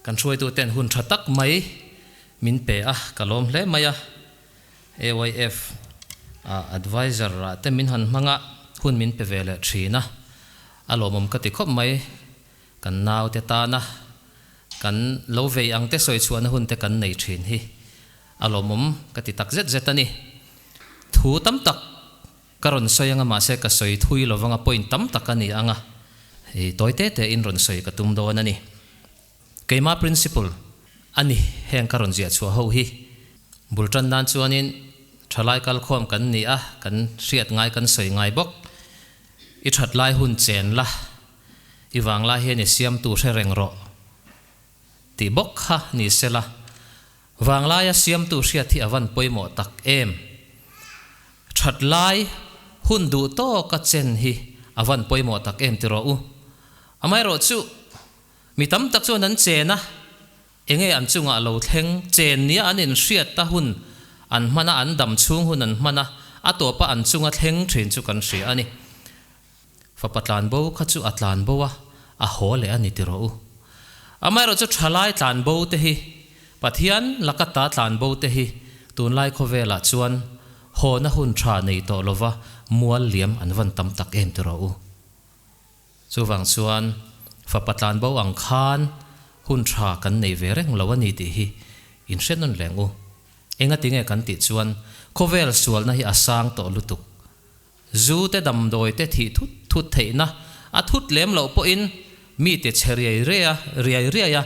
Kan hruaitu ten hun tha tak mai min pe a, ka lawm hle mai a, AYF a advisor ah te min han hmang a, hun min pe ve leh thin a, a lawmawm ka ti khawp mai, kan nau te tan a, kan lo vei ang te sawi chhuahna hun te kan nei thin hi a lawmawm ka ti tak zet zet a ni, thu tam tak. Ka rawn sawi anga mahse ka sawi thui lo vanga point tam tak a ni anga i tawi te te in rawn sawi ka tum dawn a ni. Keimah principle a ni heng ka rawn ziah chhuah ho hi. Bul tan nan chuanin thalai kal khawm kan ni a, kan hriat ngai kan sawi ngai bawk. I that lai hun chen la, i vang lai hian i siamtu hre reng rawh. ti bawk kha ni sela, Vanglaia siamtu hriat hi a van pawimawh tak em? That lai hun duh tawka chen hi a van pawimawh tak em tirawh u. Amaherawhchu, mi tam tak chuan an chen a, eng nge an chungah lo thleng chen nia an inhriat a hun an hman a, an dam chhung hun an hman a, a tawpa an chunga thleng thin chu kan hria a ni. Fapa tlanbo kha chu a tlanbo a, a haw leh a ni ti rawh u. Amaherawh chu thalai tlanbo te hi, Pathian laka ta tlanbo te hi tunlai khawvelah chuan hawna hun tha nei tawh lova mual liam an van tam tak em ti rawh u. Chuvang chuan Fapa tlanbo ang khan hun tha kan nei ve reng lo a ni tih hi in hre nawn leng u. Engatinge kan tih chuan khawvel sualna hi a sang tawh lutuk, Zu te damdawi te thih thut thut theihna a thut lem loh pawhin mi te chhe riai rea riai riai a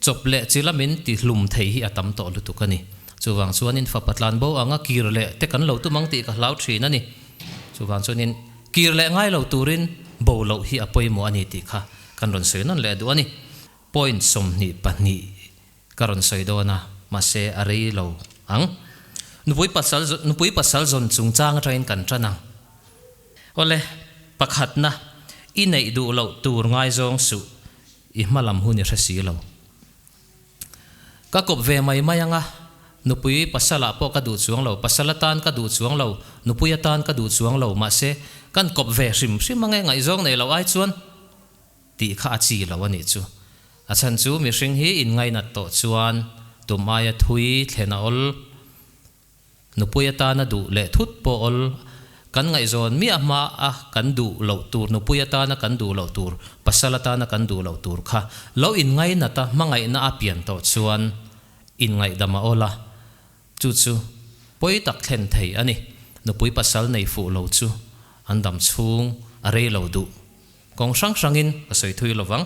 chawp leh chi lamin ti hlum thei hi a tam tawh lutuk a ni. Chuvang chuanin fa patlan bo anga kir leh te kan lo tum ang tih ka hlau thin a ni. Chuvang chuanin kir leh ngai lo turin bo loh hi a pawimawh a ni tih kha kan rawn sawi nawn leh duh a ni. Point sawmhnih pahnih. Ka rawn sawi dawn a, mahse a rei lo ang. Nupui pasal zawn, nupui pasal zawn chungchang atangin kan tan ang. Awle, pakhatna, i neih duh loh tur ngaizawng suh, i hma lam hun i hre si lo. Ka kawp ve mai mai anga, nupui pasalah pawh ka duh chuang lo, pasal atan ka duh chuang lo, nupui atan ka duh chuang lo, mahse, kan kawp ve hrim hrim ange, ngaihzawng nei loh ai chuan. tih kha a chi lo a nih chu. A chhan chu mihring hi inngainat tawh chuan tum aia thui thlen a awl, nupui atan a duh leh thut pawh awl, kan ngaihzawn miah hma a kan duh loh tur, nupui atan a kan duh loh tur, pasal atan a kan duh loh tur kha lo inngainat a, hmangaihna a pian tawh chuan inngaidam a awl a, Chu chu pawi tak thlen thei a ni. Nupui pasal nei fuh lo chu an dam chhung a rei lo duh. Kawng hrang hrangin ka sawi thui lo vang.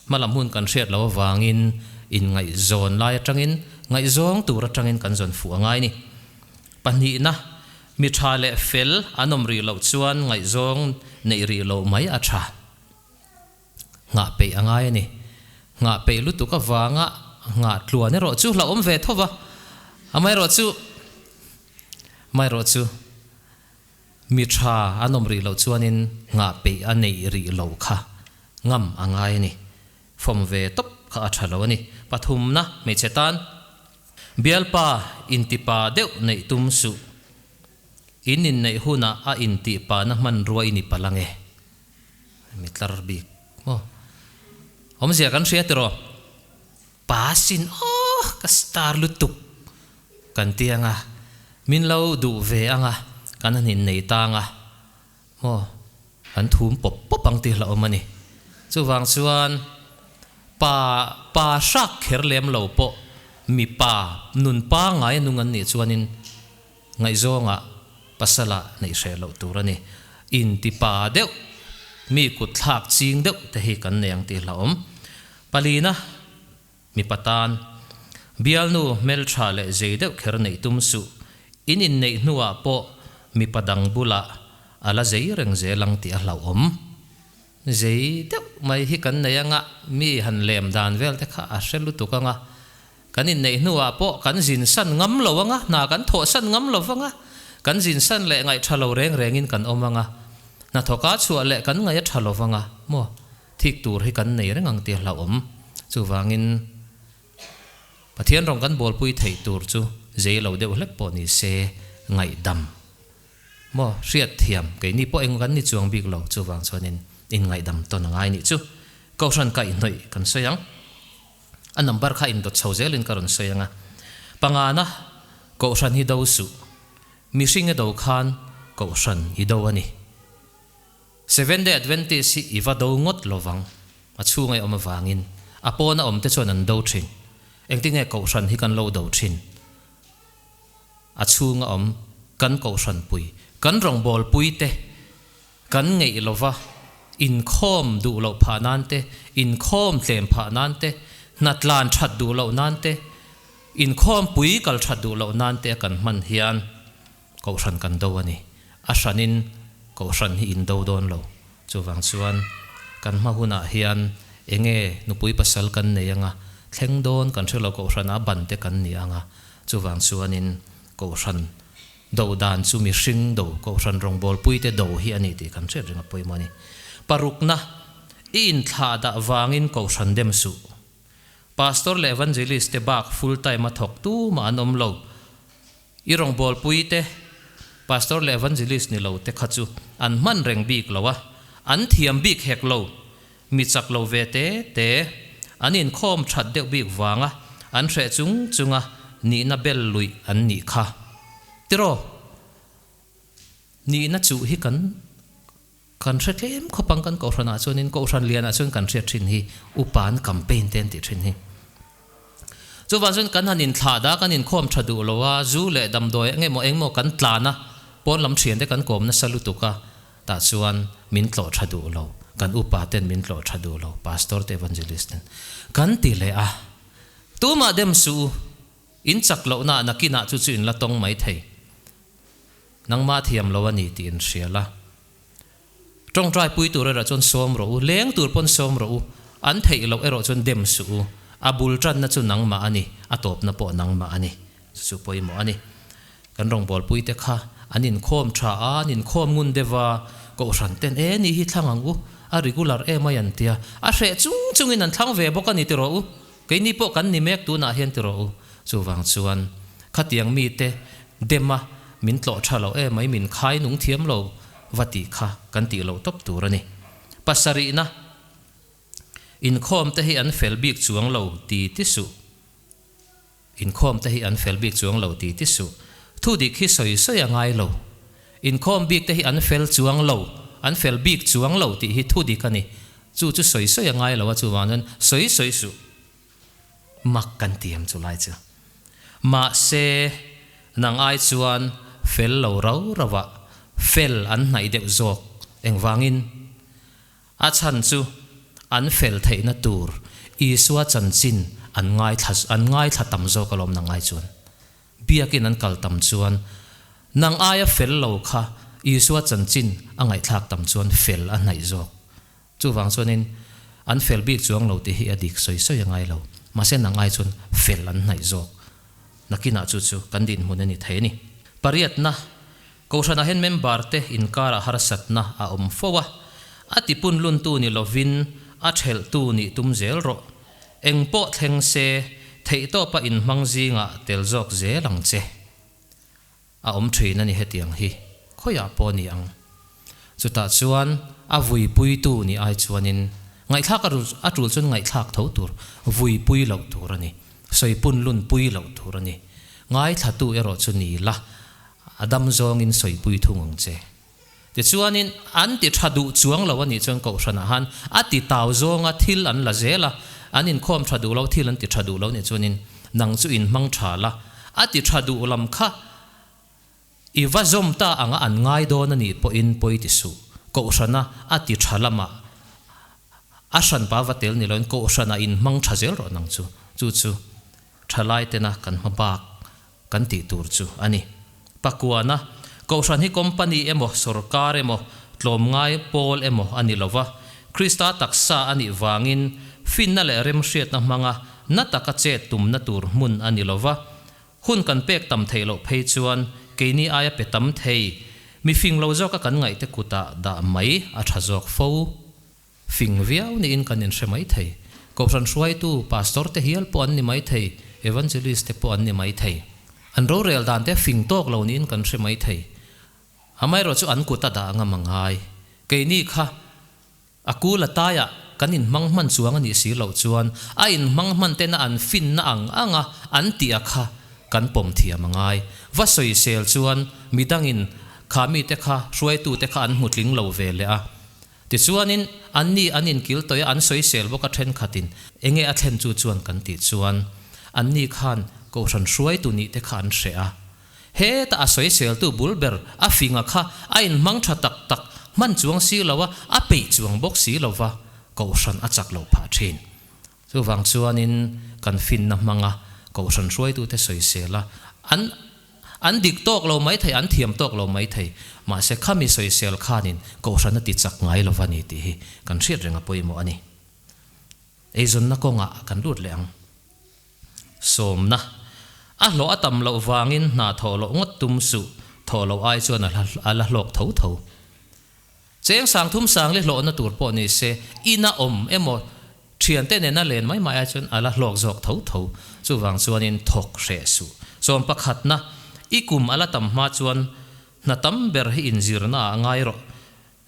Hmalam hun kan hriat lo avangin inngaihzawn lai atangin ngaihzawng tur atangin kan zawn fuh a ngai ni. Pahnihna, mi tha leh fel an awm rih loh chuan ngaihzawng neih rih loh mai a tha. Nghah peih a ngai a ni. Nghah peih lutuk avanga nghah tluan erawh chu hlauhawm ve thawp a. Amaherawh chu, amaherawh chu, mi tha an awm rih loh chuanin nghah peih a neih rih loh kha ngam a ngai a ni. Fawm ve tawp kha a tha lo a ni. Pathumna, hmeichhe tan bialpa intipa deuh neih tum suh. In inneih hunah a intihpahna hmanrua i ni palh ange. Mi tlar bik maw? Awmzia kan hria tiraw? Pa sin awh ka star lutuk kan ti anga, min lo duh ve anga kan han innei ta anga maw? Kan thum pawp pawp ang tih hlauh awm a ni. Chuvang chuan pa pa hrak kher lem lo pawh mipa nun pangngai a nung an nih chuanin, Ngaihzawngah pasala neih hreh loh tur a ni. Intipa deuh, mi kutthlak ching deuh te hi kan nei ang tih hlauhawm. Palina, mipa tan, bialnu hmeltha leh zei deuh kher neih tum suh, in inneih hnuah pawh mipa dang bulah a la zei reng zel ang tih a hlauhawm. Zei deuh mai hi kan nei anga mi han lem dan vel te kha a hre lutuk ang a. Kan inneih hnuah pawh kan zin san ngam lo anga, hna kan thawh san ngam lo anga, kan zin san leh ngaih tha lo reng rengin kan awm anga, hnathawka chhuah leh kan ngaih a tha lo anga maw thik tur hi kan nei reng ang tih a hlauhawm. Chuvangin Pathian rawn kan bualpui theih tur chu zei lo deuh hlek pawh ni se ngaihdam maw hriatthiam keini pawh engmah kan ni chuang bik lo chuvang chuanin inngaidam tawn a ngai nih chu kohhran kaihhnawih kan sawi ang. A number kha indawt chho zel in ka rawn sawi anga, Pangana, Kohhran hi do suh? Mihring i do khan Kohhran i do a ni. Seventh Day Adventist hi i va do ngawt lo vang. A chhunga i awm avangin a pawn a awmte chuan an do thin. Engtinge Kohhran hi kan lo do thin? A chhunga awm kan Kohhranpui, kan rawngbawlpuite, Kan ngeih lo va, inkhawm duh loh phah nan te, inkhawm tlem phah nan te, hnatlan that duh loh nan te, inkhawm pui kal that duh loh nan te a kan hman hian Kohhran kan do a ni. A hranin Kohhran hi in do dawn lo. Chuvang chuan kan hma hunah hian eng nge nupui pasal kan nei anga thleng dawn kan hre lo, Kohhranah a ban te kan ni anga chuvang chuanin Kohhran Do dan chu mihring, do kohhran rawngbâwl puite do hi a ni tih kan hriat reng a pawimawh a ni. Parukna, I inthlâh dah vângin kohhran dem suh. Pastor leh Evangelist-te bâk full time a thawk tûmah an awm lo. I rawngbâwl puite, Pastor leh Evangelist ni lote kha chu an hman reng bîk lo a, an thiam bîk hek lo. Mi chak lo ve te te an inkhawm that deuh bik vanga an hreh chung chunga nihna bel luih an nih kha. Tiraw, nihna chuh hi kan kan hre tlem khawpang kan Kohhranah chuanin Kohhran lianah chuan kan hriat thin hi upan campaign te an tih thin hi. Chuvang chuan kan han inthlah da, kan inkhawm tha duh lo a, zu leh damdawi engemaw engemaw kan tlan a, pawn lam thiante kan kawm nasa lutuk a, tah chuan min tlawh tha duh lo, kan upa ten min tlawh tha duh lo, Pastor te Evangelist ten kan ti leh a, tumah dem suh u, in chak lohna nakinah chu chu in la tawng mai thei, nangma thiam lo a ni tih in hrial a, Tawngtai pui tur erawh chuan sawm rawh u, leng tur pawn sawm rawh u, an theih loh erawh chuan dem suh u, a bul tanna chu nangmah a ni, a tawpna pawh nangmah a ni, chu chu pawimawh a ni. Kan rawngbâwl puite kha an inkhawm ṭha a, an inkhawm ngun deuh a, Kohhran ten e, ni hi thlang ang u, a regular emawih an tia, a hreh chung chungin an thlang ve bawk a ni, ti rawh u. Keini pawh kan ni mek tunah hian ti rawh u. Chuvang chuan, Khatiang mite dema min tlawh tha lo e, mai min khai nung thiam lo va tih kha kan tih lo tawp tur a ni. Pasarihna inkhawmte hi an fel bik chuang lo ti ti suh. Inkhawmte hi an fel bik chuang lo ti ti suh. Thu dik hi sawi sawi a ngai lo. Inkhawm bikte hi an fel chuang lo, an fel bik chuang lo tih hi thu dik a ni. Chu chu sawi sawi a ngai lo a chuvang chuan sawi sawi suh mak kan ti ang chu lai chu. Mahse nang ai chuan fel lo rau rauha fel an hnaih deuh zawk engvangin a chhan chu an fel theihna tur Isua chanchin an ngaithla an ngaithla tam zawk alawm nang ai chuan. Biakin an kal tam chuan, Nang aia fel lo kha Isua chanchin a ngaihthlak tam chuan fel a hnaih zawk. Chuvang chuanin, an fel bik chuang lo tih hi a dik sawi sawi a ngai lo. Mahse nang ai chuan fel an hnaih zawk. Nakinah chu chu kan dinhmun a ni thei a ni. Pariatna. Kohhranah hian member te inkarah harsatna a awm fo a, a tipun luntu ni lovin a ṭhelhtu nih tum zel rawh. Engpawh thleng se, theihtawpa inhmang zingah tel zawk zel ang che. A awm ṭhin a ni hetiang hi, khawiah pawh ni ang. Chutah chuan a vuipuitu nih ai chuanin ngaihthlak a rul a tul chuan ngaihthlak tho tur vuipui loh tur a ni, sawipunlun pui loh tur a ni. Ngaithlatu erawh chu ni la, A dam zawngin sawipui thung ang che. Tichuanin an ti tha duh chuang lo a nih chuan Kohhranah han a ti tau zawnga thil an la zel a, an inkhawm tha duh lo, thil an ti tha duh lo nih chuanin nang chu in hmang tha la, a ti tha duh lam kha i va zawm ta anga an ngai dawn a nih pawhin pawi ti suh. Kohhrana a ti tha lama a hranpa va tel ni loin Kohhranah in hmang tha zel rawh nang chu, chu chu thalaitena kan hma bak kan tih tur chu a ni. Pakuana, Kohhran hi company emaw sorkar emaw tlawm ngai pawl emaw a ni lo va, Krista taksa a nih vangin finna leh remhriatna hmanga na taka chet tumna tur hmun a ni lo va. Hun kan pek tam theih loh phei chuan keini aia pe tam thei, mi fing lo zawka kan ngaihte kutah dah mai a tha zawk fo. Fing viau niin kan inhre mai thei. Kohhran hruaitu, Pastor te hial pawh an ni mai thei, Evangelist te pawh an ni mai thei. An rorel dan te fing tawk lo niin kan hre mai thei. Amaherawh chu an kut a dah a ngam a ngai. Keini kha a kul a taiah kan inhmang hman chuang a nih si loh chuan a inhmang hman tena an finna ang ang a an tih a kha kan pawm thiam a ngai. Va sawi sel chuan midangin kha mite kha hruaitu te kha an hmu tling lo ve leh a. Tichuanin, anni an inkiltawia an sawisel bawk a thenkhatin, Enge a thlen chu chuan? kan tih chuan, anni khan Kohhran hruai tu nih te kha an hreh a. Heta a sawiseltu bul ber a finga kha a inhmang tha tak tak, hman chuang si lo a, a peih chuang bawk si lova, Kohhran a chak lo phah thin. Chuvang chuanin kan finna hmanga kohhran hruaitute sawisela an an dik tawk lo mai thei, an thiam tawk lo mai thei. Mahse, khami sawisel khanin kohhran a tichak ngai lo va ni tih hi kan hriat reng a pawimawh a ni. Eizawnna kawngah kan lut leh ang. Sawmna, A hlawh a tam loh vangin hna thawh loh ngawt tum suh, thawh loh ai chuan a la hlawk tho tho. Cheng sangthum sangle hlawhna tur pawh ni se, ina awm emaw thiante nena len mai maia chuan a la hlawk zawk tho tho. Chuvang chuanin thawk hreh suh. Sawm pakhatna, i kum a la tam hma chuan hna tam ber hi inzirnaah ngai rawh.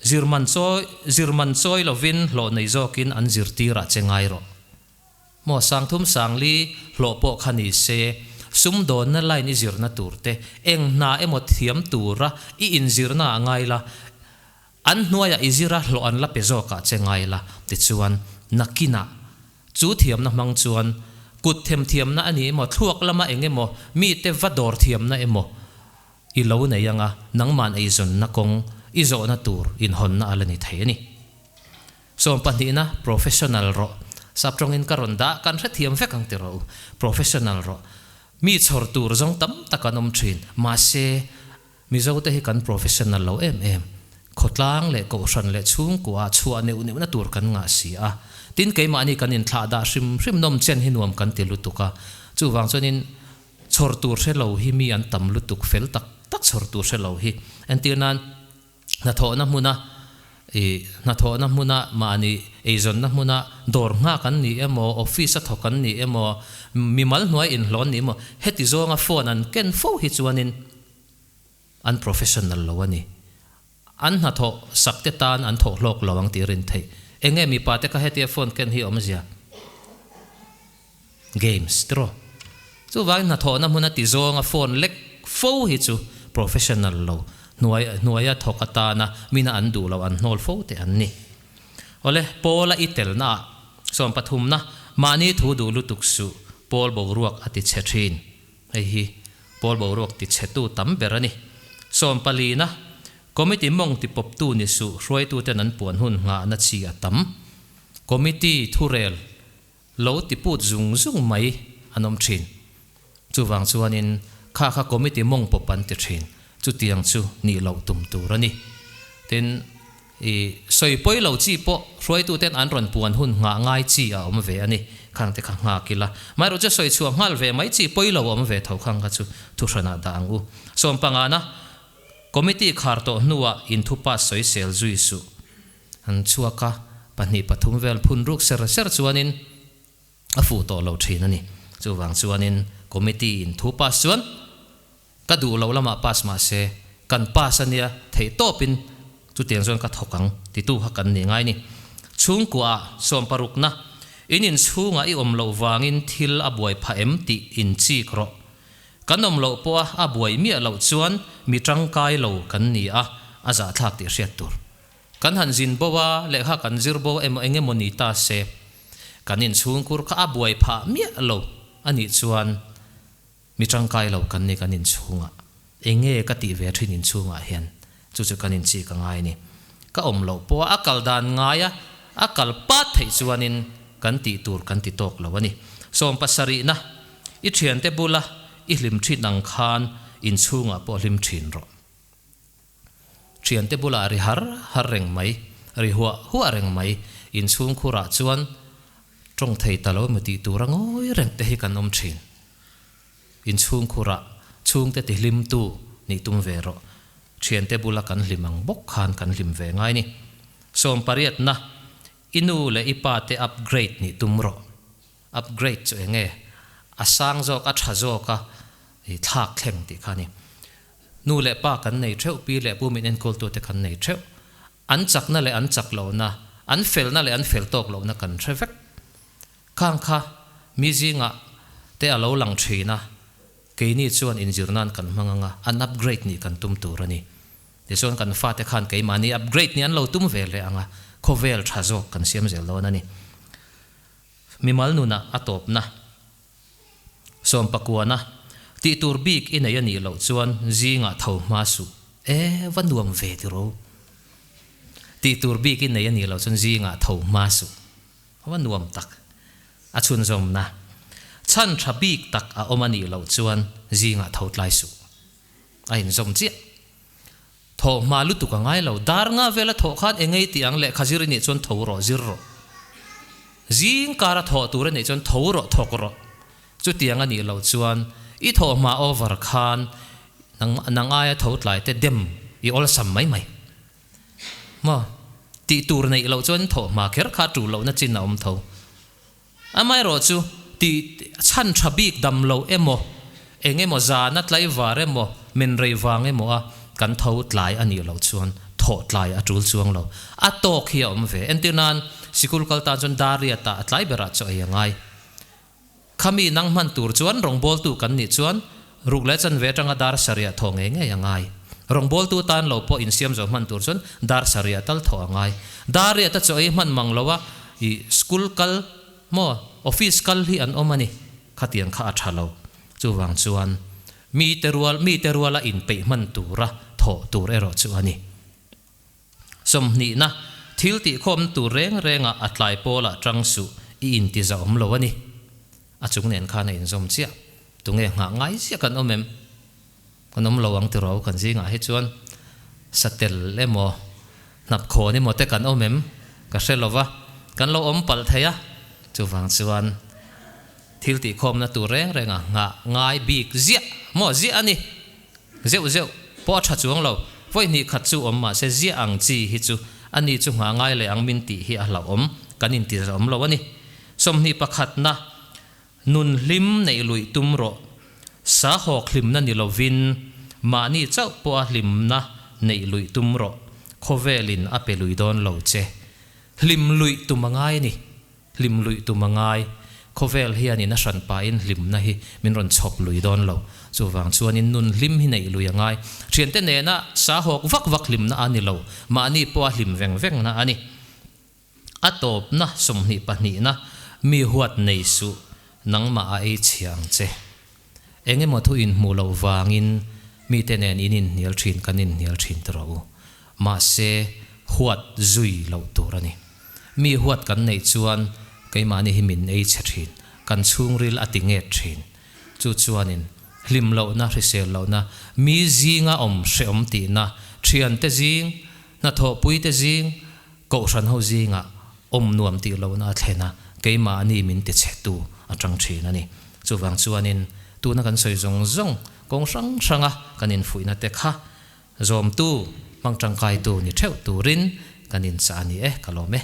Zir man chawi, zir man chawi lovin hlawh nei zawkin an zirtirah che ngai rawh. Maw Sangthum Sangli, hlawh pawh kha ni se, sum dawnna line i zirna tur te, eng hna emaw thiam tura i inzirna ah ngai la, an hnuaiah i zir a hlawh an la pe zawk ah che ngai la, tichuan Nakinah chu thiamna hmang chuan kut them thiamna a nih emaw, thluak lama eng emaw, mite va dawr thiamna emaw i lo nei anga, nangman eizawnna kawng i zawhna tur inhawnna a la ni thei a ni. Chuan pahnihna, Professional rawh, sap tawngin ka rawn dah, kan hrethiam vek ang tirh u, Professional rawh, mi chhawr tur zawng tam tak an awm thin, mahse, Mizote hi kan Professional lo em em, khawtlang leh kohhran leh chhungkuaah chhuah neuh neuhna tur kan ngah si a, tin keimahni kan inthlah dah hrim hrim nawm chian hi nuam kan ti lutuk a, chuvang chuanin chhawr tur hrelo hi mi an tam lutuk fel tak tak chhawr tur hrelo hi, entir nan, Hnathawhna hmuna ih hnathawhna hmuna mahni eizawnna hmuna dawr nghak an nih emaw, office a thawk an nih emaw, mimal hnuai inhlawh an nih emaw, heti zawnga phone an ken fo hi chuanin an professional lo a ni. An hnathawh sak te tan an thawh hlawk lo ang tih a rin theih. Eng nge mipate kha hetia phone ken hi a awmzia? Games, draw. Chuvangin hnathawhna hmuna tizawnga phone lek fo hi chu professional lo hnuai hnuaia thawk atana mina an duh lo an hnawl fo te an ni. Awle, Paula i telna ah sawn pathumna mahni thu duh lutuk suh Paul boruak a ti chhe thin. Hei hi Paul boruak ti chhe tu tam ber a ni. Sawn palina committee mawng ti pawp tu ni suh hruaituten an puan hun nghahna chi a tam. Committee thurel. Lo ti put zung zung mai an awm thin. Chuvang chuanin kha kha committee mawng pawp an ti thin. Chutiang chu nih loh tum tur a ni. Tin, i sawipawi lo chi pawh hruaituten an rawn puan hun nghah ngai chi a awm ve a ni. Khang te kha nghak ila. Amaherawh chu sawi chhuah nghal ve mai chi pawi lo awm ve tho khang kha chu thu hranah dah ang u. Sawmpangana, committee khar tawh hnuah inthu pass sawi sel zui suh. An chhuak a, pahnih pathum vel phun ruk ser ser chuanin a fuh tawh lo thin a ni. Chuvang chuanin committee in thu pass chuan ka duh loh lamah pass mahse kan pass a nia theih tawpin chutiang chuan ka thawk ang titu kha kan ni ngai ni. Chhungkuaah sawm parukna in inchhungah i awm loh vangin thil a buai phah em tih in chik rawh. Kan awm loh pawha a buai miah loh chuan mi tangkai lo kan ni a, a zahthlak tih hriat tur. Kan han zin bo a, lehkha kan zir bo emaw eng emaw ni ta se, kan inchhungkur kha a buai phah miah lo a nih chuan mi tangkai lo kan ni kan inchhung a, enge ka tih ve thin inchhungah hian chu chu kan inchih ka ngai ni. Ka awm loh pawha a kal dan ngai a, a kal pat theih chuanin kan tih tur kan ti tawk lo a ni. Sawm pasarihna, i thiante bula i hlim thin ang khan inchhungah pawh hlim thin rawh. Thiante bulah ri har har reng mai, ri huah huah reng mai, inchhungkhurah chuan tawng thei ta lo mi tih tura ngawi reng te hi kan awm thin. Inchhungkhurah chhungte ti hlimtu ni tum ve rawh, thiante bula kan hlim ang bawk khan kan hlim ve ngai ni. Sawmpariatna, I nu leh i pa te upgrade ni tum rawh. Upgrade chu eng nge? A sang zawk, a tha zawk a i thlak thleng tih kha a ni. Nu leh pa kan nei theuh, pi leh pu min enkultu te kan nei theuh. An chakna leh an chak lohna, an felna leh an fel tawk lohna kan hre vek. Khang kha mi zingah te a lo lang thin a, keini chuan inzir nan kan hmang ang a, an upgrade nih kan tum tur a ni. Tichuan kan fate khan keimahni upgrade nih an lo tum ve hle ang a, khawvel tha zawk kan siam zel dawn a ni. Mimal nuna a tawpna, Sawmpakuana, tih tur bik i nei a nih loh chuan zingah tho hma suh e, va nuam ve tiraw? Tih tur bik i nei a nih loh chuan zingah tho hma suh, va nuam tak. A chhunzawmna, Chhan tha bik tak a awm a nih loh chuan zingah tho tlai suh, a inzawm chiah. Tho hma lutuk a ngai lo. Dar nga vel a tho khan engei tih ang lehkha zir i nih chuan tho rawh, zir rawh. Zing kar a tho tur a nih chuan tho rawh, thawk rawh. Chutiang a nih lo chuan i tho hma over khan nangmah nang aia tho tlai te dem i awlsam mai mai. Maw? Tih tur neih loh chuan tho hma kher kha tul lohna chin a awm tho. Amaherawh chu, tih chhan tha bik dam loh emaw, eng emaw zana tlaivar emaw, min rei vang emaw a kan tho tlai a nih loh chuan thawh tlai a tul chuang lo. A tawk hi a awm ve. Entir nan sikul kal tan chuan Dariat-a a tlai berah chu ei a ngai. Khami nang hman tur chuan rawngbawltu kan nih chuan Ruk leh chanve atanga dar sariah thaw ngei ngei a ngai. Rawngbawltu tan lo pawh insiam zo hman tur chuan dar sariah tal thaw a ngai. Dar riah te chu ei hman mang lo a, i school kal maw office kal hi an awm a ni, khatiang kha a tha lo. Chuvang chuan mite rual mite ruala inpeih hman tura thawh tur erawh chu a ni. Sawmhnihna, Thil tihkhawmna tur reng renga a tlai pawlah ṭang suh i intizah awm lo a ni. A chung nen khan a inzawm chiah. Tunge nghah ngai zia kan awm em? Kan awm lo ang tiraw? Kan zingah hi chuan satel emaw hnapkhawn emaw te kan awm em? Ka hre lo va, kan lo awm palh thei a. Chuvang chuan thil tihkhawmna tur reng renga nghah ngai bik ziah maw ziah a ni. Zeuh zeuh pawh a tha chuang lo. Vawi hnih khat chu awm mah se ziah ang chi hi chu a ni chu hnga ngai leh ang min tih hi a hlauhawm kan intihzet awm lo a ni. Sawmhnih pakhatna nun hlim neih luih tum rawh. Sahawk hlimna ni lovin mahni chauh pawha hlimna neih luih tum rawh. Khawvelin a pe lui dawn lo che. Hlim luih tum a ngai a ni. Hlim luih tum a ngai. Khawvel hian in a hran pahin hlimna hi min rawn chhawp lui dawn lo. Chuvang chuanin nun hlim hi neih lui a ngai. Thiante nena sahawk vak vak hlimna a ni lo. Mahni pawha hlim veng vengna a ni. A tawpna sawmhnih pahnihna mi huat nei suh nangmah a ei chhia ang che. Eng emaw thu inhmuh loh vangin mite nen in inhnial thin kan inhnial thin ta rawh u. Mahse, huat zui loh tur a ni. Mi huat kan neih chuan keimahni hi min ei chhe thin, kan chhungril a ti nghet thin. Chu chuanin, hlim lohna, hrisel lohna, mi zinga awm hrehawm tihna, thiante zing, hnathawhpuite zing, Kohhran ho zingah awm nuam tih lohna a thlen a, keimah a ni min ti chhe tu a chang thin a ni. Chuvang chuanin tuna kan sawi zawng zawng kawng hrang hranga kan infuihnate kha zawmtu hmang tangkaitu ni theuh turin kan inchah a ni e ka lawm e.